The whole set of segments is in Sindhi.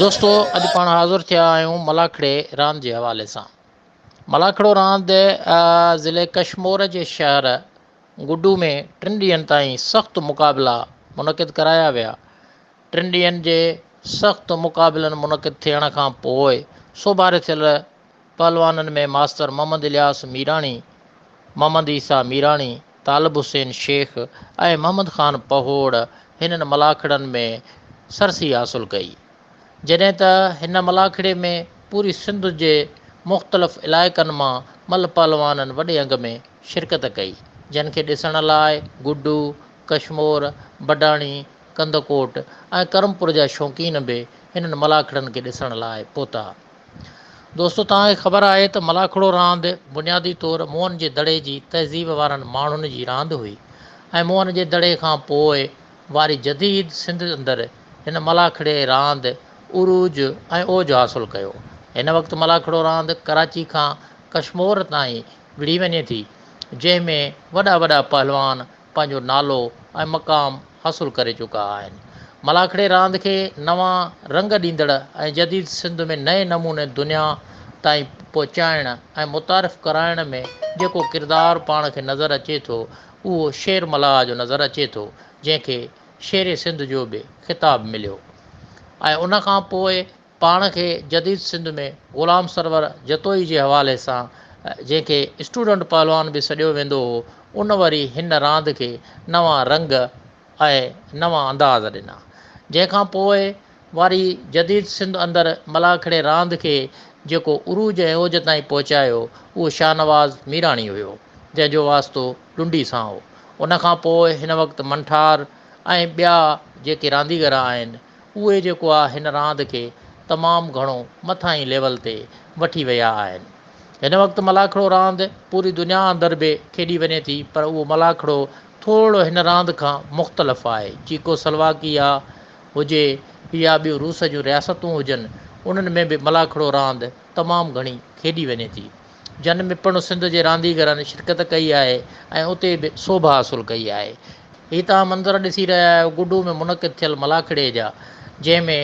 دوستو اڄ پاڻ حاضر ٿيا آهيون ملاکڙي راند جي حوالي سان ملاکڙو راند ضلع ڪشمور جي شهر گڊو ۾ ٽن ڏينهن تائين سخت مقابلا منعقد ڪرايا ويا ٽن ڏينهن جي سخت مقابلن منعقد ٿيڻ کان پوء سوڀاري ٿيل پهلوانن ۾ ماستر محمد الياس ميراڻي، محمد عيسيٰ ميراڻي، طالب حسين شيخ ۽ محمد خان پهوڙ هنن ملاکڙن ۾ سرسي حاصل ڪئي. جڏهن ته هن ملاکڙي ۾ پوري سنڌ جي مختلف علائقن مان ملهه پهلوانن وڏي انگ ۾ شرڪت ڪئي، جن کي ڏسڻ لاء گڊو، ڪشمور، بڊاڻي، ڪنڌڪوٽ ۽ ڪرمپور جا شوقين به هنن ملاکڙن کي ڏسڻ لاء پهتا. دوستو توهان کي خبر آهي ته ملاکڙو راند بنيادي طور موهن جي دڙي جي تهذيب وارن ماڻهن جي راند هئي ۽ موهن جي دڙي کان پوء واري جديد سنڌ اندر هن ملاکڙي راند عروج ۽ اوج حاصل ڪيو. هن وقت ملاکڙو راند ڪراچي کان ڪشمور تائين وڙهي وڃي ٿي جنهن ۾ وڏا وڏا پهلوان پنهنجو نالو ۽ مقام حاصل ڪري چڪا آهن. ملاکڙي راند کي نوان رنگ ڏيندڙ ۽ جديد سنڌ ۾ نئين نموني دنيا تائين پهچائڻ ۽ متعارف ڪرائڻ ۾ جيڪو ڪردار پاڻ کي نظر اچي ٿو اهو شير ملاح جو نظر اچي ٿو جنهن کي شير سنڌ جو به خطاب مليو ۽ ان کان پوء پاڻ کي جديد سنڌ ۾ غلام سرور جتوئي جي حوالي سان جنهن کي اسٽوڊنٽ پهلوان به سڏيو ويندو هو ان وري هن راند کي نوان رنگ ۽ نوان انداز ڏنا جنهن کان پوء واري جديد سنڌ اندر ملاکڙي راند کي جيڪو عروج ۽ اوج تائين پهچايو اهو شاهنواز ميراڻي هيو جنهن جو واسطو ڊنڊي سان هو ان کان پوء هن وقت منٺار ۽ ٻيا جيڪي رانديگر آهن اهي جيڪو آ هن راند کي تمام گهڻو مٿاهين ليول تي وٺي ويا آهن. هن وقت ملاکڙو راند پوري دنيا اندر به کيڏي وڃي ٿي پر اهو ملاکڙو ٿورڙو هن راند کان مختلف آهي. چيڪو سلواڪيا هجي يا ٻيون روس جون رياستون هجن انهن ۾ به ملاکڙو راند تمام گهڻي کيڏي وڃي ٿي. جن ۾ پڻ سنڌ جي رانديگرن شرڪت ڪئي آهي ۽ اتي به سوڀ حاصل ڪئي آهي. هي توهان منظر ڏسي رهيا آهيو گڊو ۾ منعقد ٿيل ملاکڙي جا جنهن ۾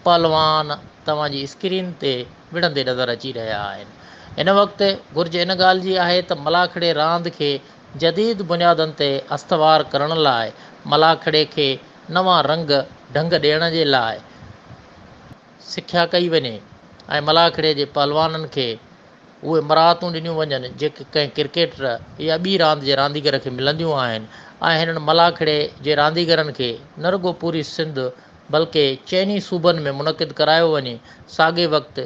پهلوان توهان جي اسڪرين تي وڙهندي نظر اچي رهيا آهن. هن وقت گهرج ان ڳالهه جي آهي ته ملاکڙي راند کي جديد بنيادن تي استوار ڪرڻ لاء ملاکڙي کي نوان رنگ ڍنگ ڏيڻ جي لاء سکيا ڪئي وڃي ۽ ملاکڙي جي پهلوانن کي اهي مراعتون ڏنيون وڃن جيڪي ڪنهن ڪرڪيٽر يا ٻي راند جي رانديگر کي ملنديون آهن ۽ هنن ملاکڙي جي رانديگرن کي نه رڳو پوري سنڌ بلڪه چئن ئي صوبن ۾ منعقد ڪرايو وڃي ساڳئي وقت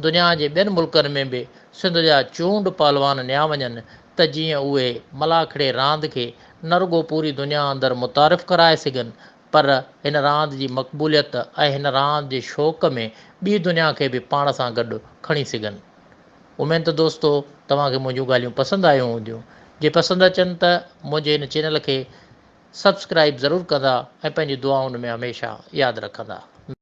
دنيا جي ٻين ملڪن ۾ به سنڌ جا چونڊ پهلوان نيا وڃن ته جيئن اهي ملاکڙي راند کي نه رڳو پوري دنيا اندر متعارف ڪرائي سگهن پر هن راند جي مقبوليت ۽ هن راند جي شوق ۾ ٻي دنيا کي به پاڻ سان گڏ کڻي سگهن. اميد ته دوستو توهان کي منهنجون ڳالهيون پسند آيون هونديون. جي پسند اچن ته منهنجي هن چينل کي سبسڪرائيب ضرور ڪندا ۽ پنهنجي دعائن ۾ هميشه ياد رکندا.